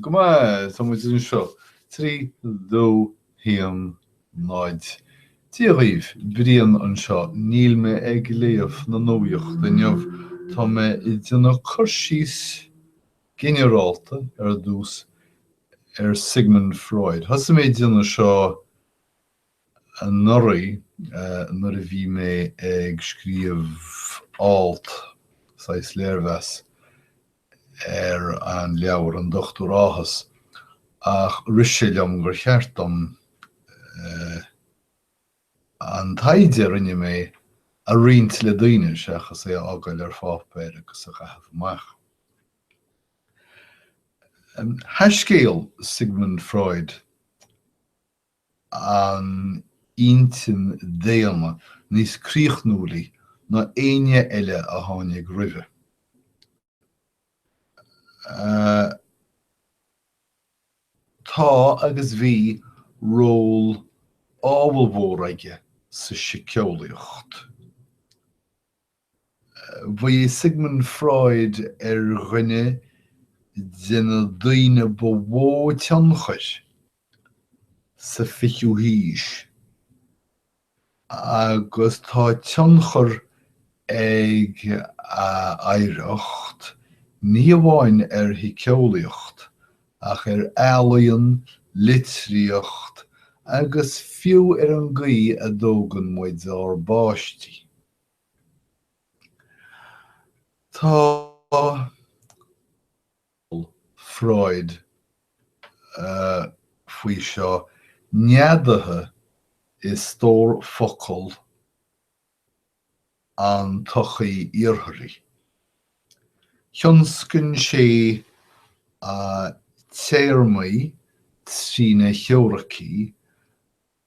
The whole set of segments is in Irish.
Go maith, tá muid anseo. Trí, dó, haon, náid. Dia dhaoibh, Brian anseo, níl mé ag léamh na nuacht inniu, tá mé ag déanamh cur síos ginearálta ar dtús ar Sigmund Freud. Thosaigh mé ag déanamh seo anuraidh nuair a bhí mé ag scríobh alt, saghas léirmheas, ar an leabhar An Dochtúir Áthas ach rith sé liom gur cheart dom an taighde a rinne mé a roinnt le daoine seachas é a fhágáil ar pháipéar agus a chaitheamh amach. Thaiscéal Sigmund Freud an intinn daonna níos críochnúilí ná éinne eile a tháinig roimhe. Tá, agus bhí, ról ábhalmhór aige sa síceolaíocht. Bhí Sigmund Freud ar dhuine de na daoine ba mhó tionchair sa 20ú haois agus tá tionchar ag a oidhreacht ní hamháin ar shíceolaíocht ach ar ealaíon, litríocht agus fiú ar an gcaoi a dtógann muid ár bpáistí. Tá Freud faoi seo neadaithe i stór focal an tsochaí Iartharaigh. Thionscain sé téarmaí trína theoiricí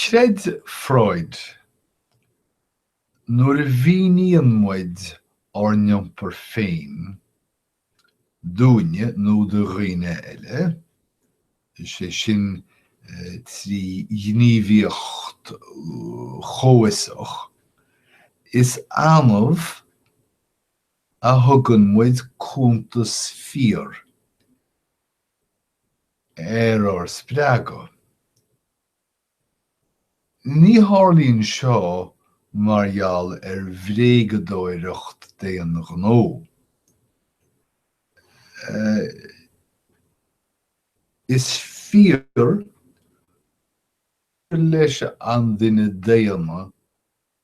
Chreid Freud, nuair a mhíníonn muid ár n-iompar féin dúinne nó do dhaoine eile, is é sin trí ghníomhaíocht chomhfhiosach, is annamh a thugann muid cuntas fíor ar ár spreagadh. Ní tharlaíonn seo mar gheall ar bhréagadóireacht d'aon ghnó. Is fíor gur leis an duine daonna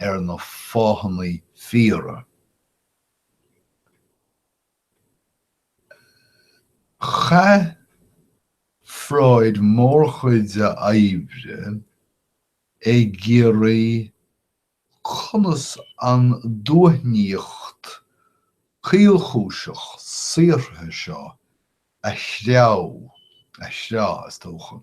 ar na fáthanna fíora Chaith Freud mórchuid a oibre ag iarraidh conas an duaithníocht caolchúiseach saothraithe seo a threá, a threá, is dócha.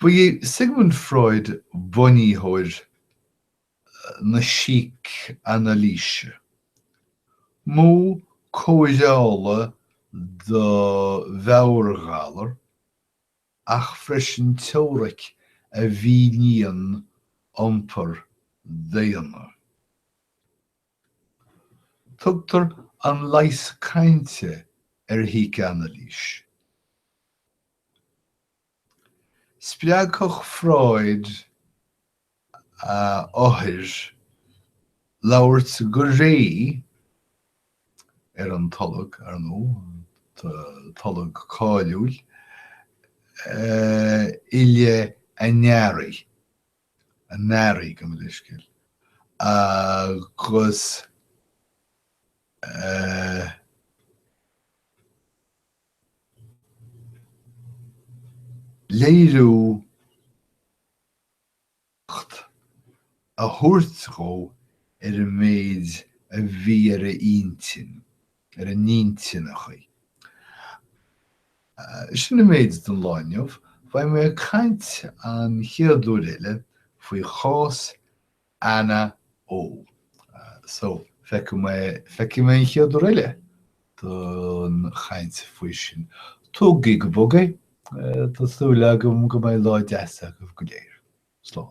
Ba é Sigmund Freud bunaitheoir na sícanailíse, modh cóireála do mheabhairghalar, ach freisin teoiric a mhíníonn iompar daonna. Tugtar an leigheas cainte ar shícanailís. Spreagfadh Freud a othair labhairt go réidh ar an tolg, ar ndóigh, tolg cáiliúil i leith a ndearaí. a n-airí gabh mo leithscéal agus eh. léiriú a thabhairt dhó ar an méid a bhí ar a intinn. ar a n-intinn okay. Sin an méid don lá inniu. Beidh mé ag caint an chéad uair eile faoi chás Anna O. So, feicfidh mé, feicfidh mé an chéad uair eile don chaint faoi sin. Tógaigí go bog é. Tá súil agam go mbeidh lá deas agaibh go léir. Slán.